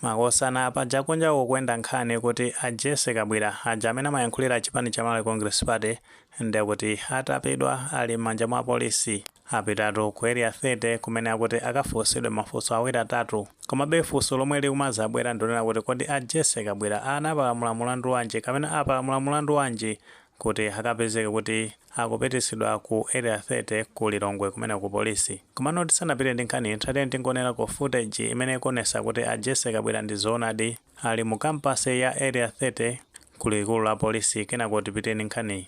Makosana paja kunja kukuenda nkhani kuti a Jessy Kabwila aja amene amayankhulira chipani cha Malawi Congress Party ndekuti atapidwa ali m'manja mwa apolisi. Apitatu ku Area 30 kumene akuti akafunsidwe mafunso awiri atatu. Komabe funso lomwe likumazabwera ndilonena kuti kodi a Jessy Kabwila anapalamula mulandu wanji kapena apalamula mulandu wanji kuti akapezeke kuti akupitisidwa ku area 30 ku Lilongwe kumene ku police. Komano tisanapite ndi nkhaniyi tatiyeni tingoonelako footage imene ikuonesa kuti a Jessy Kabwila ndi zoonadi ali mu campus ya area 30 ku likulu la police kenako tipite ndi nkhaniyi.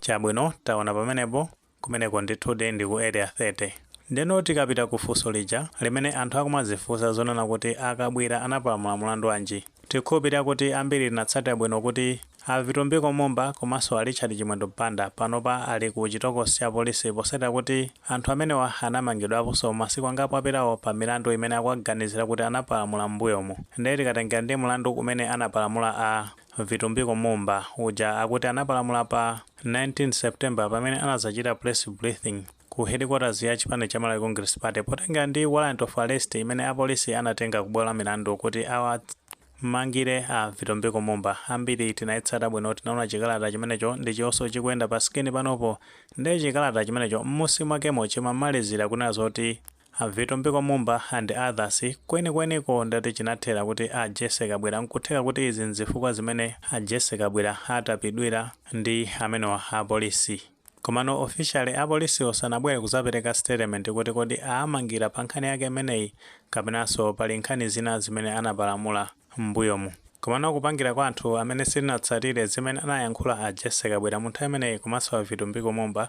Chabwino taona pamenepo Kumeneko ndithudi ndi ku Area 30. Ndeno tikapita ku funso lija limene anthu akumadzifunsa zonena kuti a Kabwila anapalamula mulandu wanji? Tikhulupilira kuti ambiri tinatsatira bwino kuti a Vitumbiko Mumba komanso a Richard Chimwendo Banda panopa ali ku chitokosi cha apolisi posatira kuti anthu amenewa anamangidwaponso masiku angapo apitawo pa milandu imene akuwaganizira kuti anapalamula m'mbuyomu. Nde tikatengera ndi mulandu umene anapalamula a Vitumbiko Mumba uja akuti anapalamula pa 19 September pamene anadzachita press briefing ku headquarters ya chipani cha Malawi Congress Party potengera ndi warrant of arrest imene apolisi anatenga ku bwalo la milandu kuti awamangire a Vitumbiko Mumba. Ambiri tinaitsata bwino, tinaona chikalata chimenecho ndi chionso chikuyenda pa screen panopo. Ndiye chikalata chimenecho m'munsi mwakemo chimamalizira kunena zoti A Vitumbiko Mumba and others, kwenikweniko ndi kuti chinathera kuti a Jessy Kabwila nkutheka kuti izi nzifukwa zimene a Jessy Kabwila atapidwira ndi amenewa a Police. Komano officially a Policewo sanabwere kuzapereka statement kuti kodi aamangira pa nkhani yake imeneyi kapenanso pali nkhani zina zimene anapalamula m'mbuyomu. Komano kupangira kwa anthu amene sitinatsatire zimene anayankhula a Jessy Kabwila mu nthawi imeneyi komanso a Vitumbiko Mumba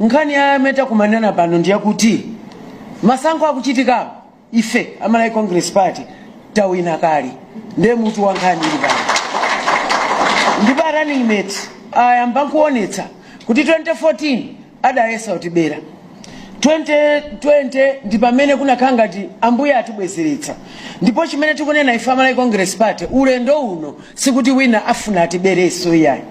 nkhani ya amene takumanirana pano ndi yakuti masankho akuchitikawo ife a malawi congress party tawina kale ndiye mutu wa nkhani ili apa ndipo a running mate ayamba nkuonetsa kuti 2014 adayesa kutibera 2020 ndi pamene kunakhala ngati ambuye atibwezeretsa ndipo chimene tikunena ife a malawi congress party ulendo uno sikuti wina afuna atibereso iyayi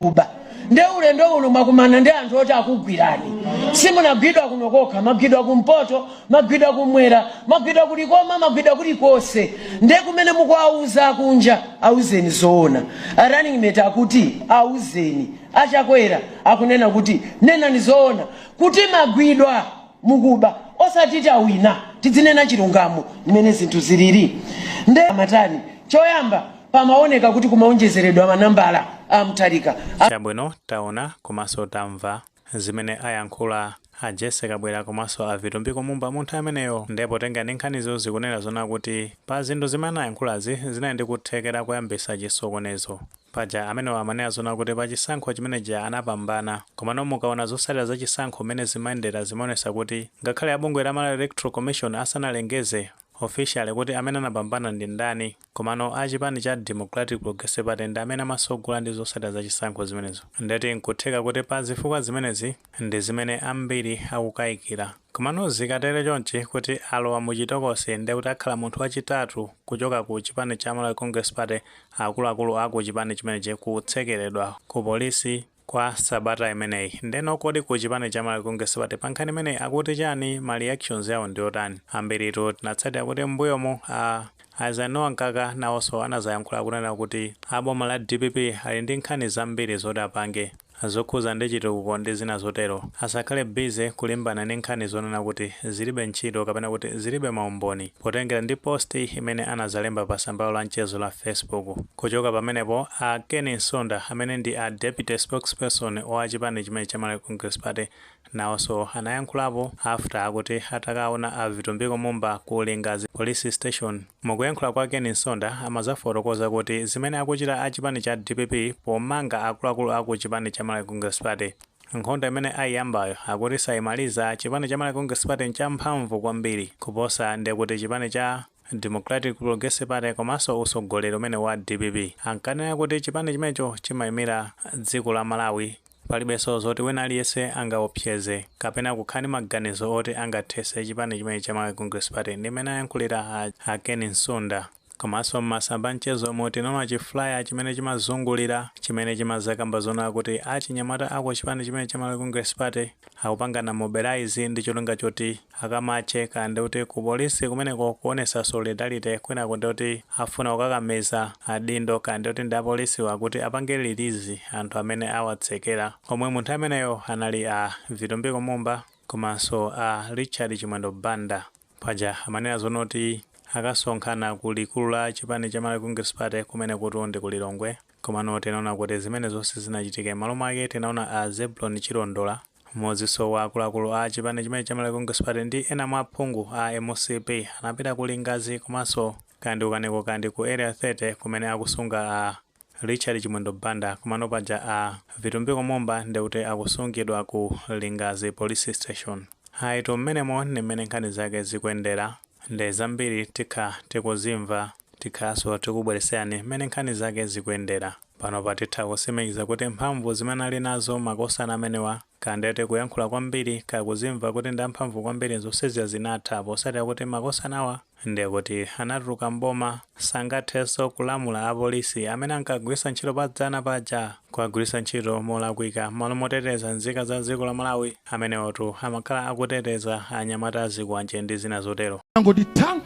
kuba nde ulendo uno mwakumana ndi anthu oti akugwirani simunagwidwe kuno kokha mwagwidwa kumpoto mwagwidwa kumwera mwagwidwa ku Likoma mwagwidwa kulikonse nde kumene mukuwauza akunja auzeni zoona A running mate akuti auzeni a Chakwera akunena kuti nenani zoona kuti mwagwidwa mukuba osati tawina tidzinena chilungamo mmene zinthu zilili nde amatani choyamba Pamawoneka kuti kumawonjezeredwa manambala a Mutharika a. Chabwino taona komanso tamva zimene ayankhula a Jessy Kabwila komanso a Vitumbiko Mumba munthawi imeneyo nde potengera ndi nkhanizo zikunena zona kuti pa zinthu zimene anayankhulazi zinali ndi kuthekera koyambisa chisokonezo paja amenewa amanena zona kuti pa chisankho chimene chija anapambana komano mukaona zosatira za chisankho mmene zimayendera zimaonesa kuti ngakhale a bungwe la Malawi Electoral Commission asanalengeze officially kuti amene anapambana ndi ndani Komano a chipani cha Democratic Progressive Party ndi amene amasogola ndi zosatira za chisankho zimenezo ndeti nkutheka kuti pa zifukwa zimenezi ndi zimene ambiri akukaikira. Komano zikatere chonchi kuti alowa mu chitokosi ndiye kuti akhala munthu wa chitatu kuchoka ku chipani cha Malawi Congress Party akuluakulu a ku chipani chimenechi kutsekeredwa ku polisi kwa sabata imeneyi ndeno kodi ku chipani cha Malawi Congress Party pa nkhani imeneyi akuti chani ma reactions yawo ndiotani ambiritu tinatsatira kuti mmbuyomu a Eisenhower Mkaka nawoso anazayankhula kunena kuti a boma la dpp ali ndi nkhani zambiri zoti apange zokhuza ndi chitukuko ndi zina zotero asakhale busy kulimbana ndi nkhani zonena kuti zilibe ntchito kapena kuti zilibe maumboni potengera ndi post imene anazalemba pa tsamba lawo la mchezo la facebook Kuchoka pamenepo, a Ken Msonda, amene ndi a Deputy Spokesperson wa chipani chimene cha Malawi Congress Party, nawoso anayankhulapo after akuti atakaona a Vitumbiko Mumba ku Lingadzi Police Station. Mukuyankhula kwa Ken Msonda, amazafotokoza kuti zimene akuchita a chipani cha dpp pomanga akuluakulu aku chipani cha Malawi Congress Party, nkhondo imene ayiyambayo akuti sayimaliza, chipani cha Malawi Congress Party nchamphamvu kwambiri kuposa ndi kuti chipani cha. Democratic Progressive Party komanso utsogoleri umene wa dpp ankanena kuti chipani chimenecho chimayimira dziko la Malawi, palibenso zoti wina aliyense angaopseze kapena kukhala ndi maganizo oti angathetse chipani chimenechi cha Malawi Congress Party ndi mmene ayankhulira a Ken Msonda. Komanso m'masamba amchezomu tinaona chi flyer chimene chimazungulira chimene chimazakamba zonena kuti achinyamata a ku chipani chimenechi cha Malawi Congress Party akupangana mobilize ndi cholinga choti akamatche kaya ndikuti ku police kumeneko kuonesa solidarity kwinaku ndikuti akufuna kukakamiza adindo kaya ndikuti ndi apolisiwa kuti apange release anthu amene awatsekera omwe munthawi imeneyo anali a Vitumbiko Mumba komanso a Richard Chimwendo Banda paja amanena zonoti akasonkhana ku likulu la chipani cha Malawi Congress Party kumenekutu ndi ku Lilongwe komano tinaona kuti zimenezo sizinachitike mmalo mwake tinaona a Zebulon Chilondola Mmodziso wa akuluakulu a chipani chimenechi cha Malawi Congress Party ndi ena mwa aphungu a mcp anapita ku Lingadzi komaso kaya ndi ku Kanengo kaya ndi ku Area 30 kumene akusunga a Richard Chimwendo Banda komano paja a Vitumbiko Mumba ndikuti akusungidwa ku Lingadzi Police Station. Ayitu mmenemo ndi mmene nkhani zake zikuendera. nde zambiri tikhala tikuzimva tikhalanso tikubweretserani mmene nkhani zake zikuendela. panopa titha kusimikiza kuti mphamvu zimene ali nazo makosana amenewa kaya nde tikuyankhula kwambiri kaya kuzimva kuti ndi amphamvu kwambiri zonsezija zinatha posatila kuti makosanawa nde kuti anatuluka m'boma sangatheso kulamula apolisi amene ankagwisa ntchito padzana paja kuwagwiritsa ntchito molakwika. M'malo moteteza nzika za dziko la Malawi, amenewotu amakhala akuteteza anyamata azikwanje ndi zina zotero. Anangoti tha!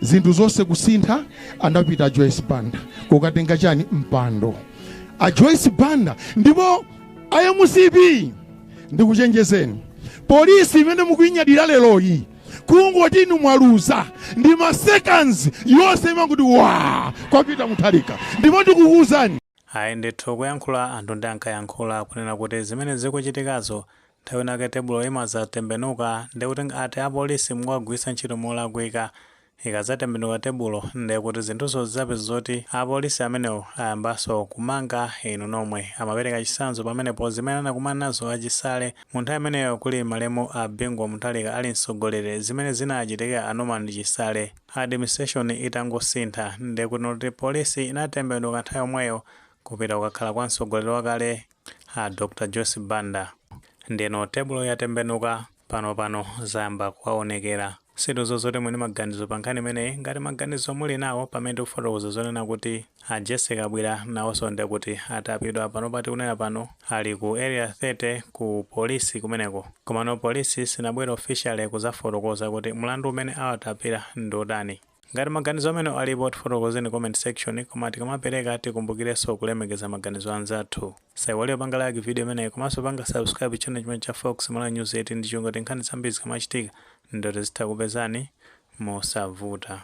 Zinthu zonse kusintha, anapita a Joyce Banda kukatenga chani? Mpando. A Joyce Banda ndipo a mcp ndikuchenjezeni, police imene mukuinyadira leroyi kungoti inu mwaluza ndi ma seconds yonse imangoti waa kwa Peter Mutharika ndipo ndikukuuzani ayi ndithu kuyankhula anthu nde ankayankhula kunena kuti zimene zikuchitikazo nthawi inake tebulo imazatembenuka ndikuti ati apolisi mukuwagwiritsa ntchito molakwika Ikadzatembenuka tebulo nde kuti zinthuzo zidzapezeka zoti apolisi amenewo ayambaso kumanga inu nomwe. Amapereka chitsanzo pamenepo zimene anakumana nazo a Chisale mu nthawi imeneyo kuli malemu a Bingu wa Mutharika ali mtsogoleri zimene zinachitika a Norman Chisale administration itangosintha nde kuti not polisi inatembenuka nthawi yomweyo kupita kukakhala kwa mtsogoleri wakale a dr joyce banda ndeno tebulo yatembenuka pano pano zayamba kuwaonekera zinthuzo muti bwanji maganizo pa nkhani imeneyi ngati maganizo muli nawo pamene tikufotokoza zonena kuti a jesse kabwira nawonso nde kuti atapidwa pano pati kunena pano ali ku area 30 ku polisi kumeneko komano polisi sinabwere officially kuzafotokoza kuti mlandu umene awatapira ndi otani Ngati maganizo amenewo alipo tifotokozeni comment section koma tikamapeleka tikumbukileso kulemekeza maganizo anzathu. Musaiwale kupanga like video imeneyi komaso kupanga subscribe channel chimenechi cha Fox Malawi News 18 ndicholinga kuti nkhani zambiri zikamachitika ndiye tizitha kukupezani mosavuta.